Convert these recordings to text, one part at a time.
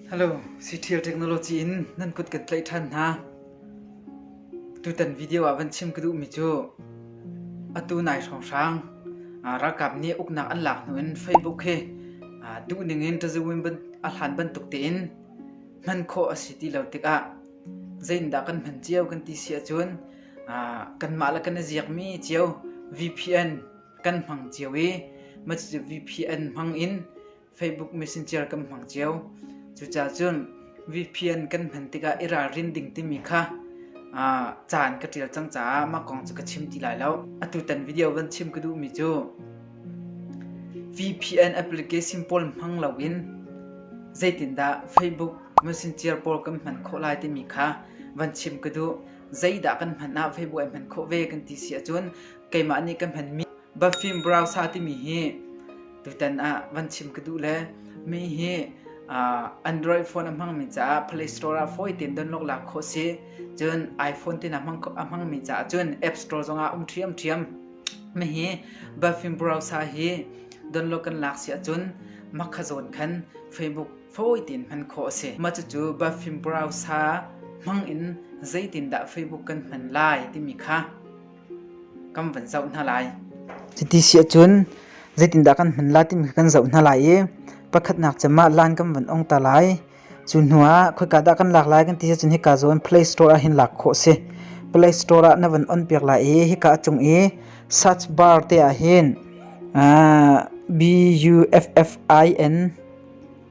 Hello, Citial Technology in nan kut kan tlaih ṭhan hna. Tutan video ah van chim ka duhmi cu atu nai hrawnghrang ralkap nih uknak an lak hnu in Facebook he duhning in ṭazawin a hlan bantuk tein hman khawh a si ti lo tikah zeindah kan hman cio kan ti si ahcun kanmah le kan i ziakmi cio VPN kan hmang cio i mah cucu VPN hmang in Facebook Messenger kan hmang cio. Cucaah cun VPN kan hman tikah i ralrin ding timi kha uh, caan ka ṭial cang caah mah kong cu ka chim ti lai lo. Atutan video van chim ka duhmi cu VPN application pawl hmang loin zeitindah Facebook Messenger pawl kan hman khawh lai timi kha van chim ka duh. Zeidah kan hman ah Facebook ai hman khawh ve kan ti si ahcun keimah nih ka hmanmi Buffim browser timi hi tutan ah van chim ka duh le mi hi Android phone a hmangmi caah Play Store ah fawi tein download lak khawh si cun iPhone tin a hmangmi caah cun App Store zongah um ṭhiamṭhiam mi hi Buffim browser hi download kan lak si ahcun makha zawn khan Facebook fawi tein hman khawh a si mah cucu Buffim browser hmang in zeitindah Facebook kan hman lai timi kha Kan van zoh hna lai. Cuti si ahcun zeitindah kan hman lai timi kha kan zoh hna lai i pakhatnak cem ah lan kan van ong ta lai. Cu hnu ah khoika dah kan lak lai kan ti ahcun hika zawn Play Store ah hin lak khawh a si. Play Store ah na van on piak lai i hika a cung i search bar te ah hin uh, B U F F I N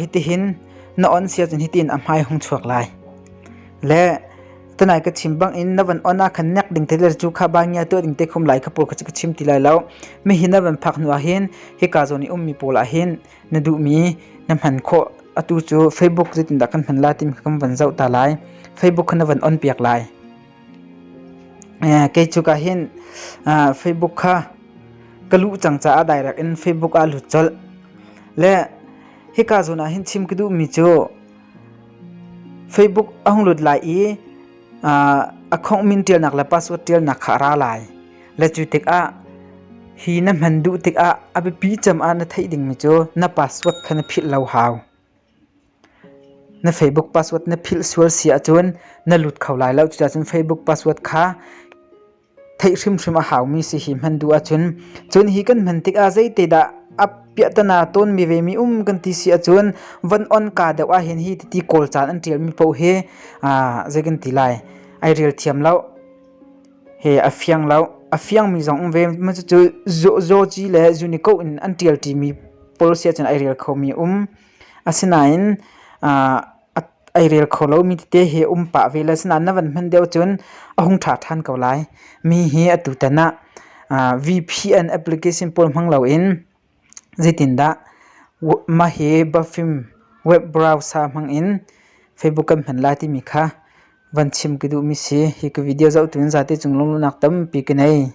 Hitihin na on si ahcun hitin a hmai hung chuak lai. Le tunai ka chim bangin na van on ahkhan nek ding te le cu kha bangia tuah ding te khum lai kha pawl kha ka chim ti lai lo. Mihi na van phak hnu ahhin hika zawn i ummi pawl ahhin na duhmi na hman khawh. Atu cu Facebook zeitindah kan hman lai timi kha kan van zoh ta lai. Facebook kha na van on piak lai. kei cu ka hin Facebook kha ka luh cang caah direct in Facebook ah lut colh le hika zawn ah hin chim ka duhmi cu Facebook a hung lut lai i account min ṭialnak le password ṭialnak kha a ra lai le cu tikah hi na hman duh tikah a biapi cem ah na theih dingmi cu na password kha na philh lo hau Na Facebook password na philh sual si ahcun na lut kho lai lo. Cucacun Facebook password kha theih hrimhrim a haumi si hi hman duh ahcun cun hi kan hman tikah zeite dah a piahtana tawnmi vemi um kan ti si ahcun van on ka deuh ahhin hi titi kawl caan an ṭialmi paoh hi aa zei kan ti lai ai rel thiam lo. he a fiang lo. A fiangmi zong um ve ma cucu Zawci le Zunikoh in an ṭialṭi mi policy ahcun ai rel khomi um. Asinain aa ai rel kho lomi tete he um pah ve le asinain na van hman deuh cun a hung ṭha ṭhan ko lai. Mi hi atutan ah VPN application pawl hmang loin Zeitindah mah hi biafim web browser hmangin Facebook kan hman lai timi kha van chim ka duhmi si. Hi ka video zohtu in zate cung lungnunak tampi ka nei.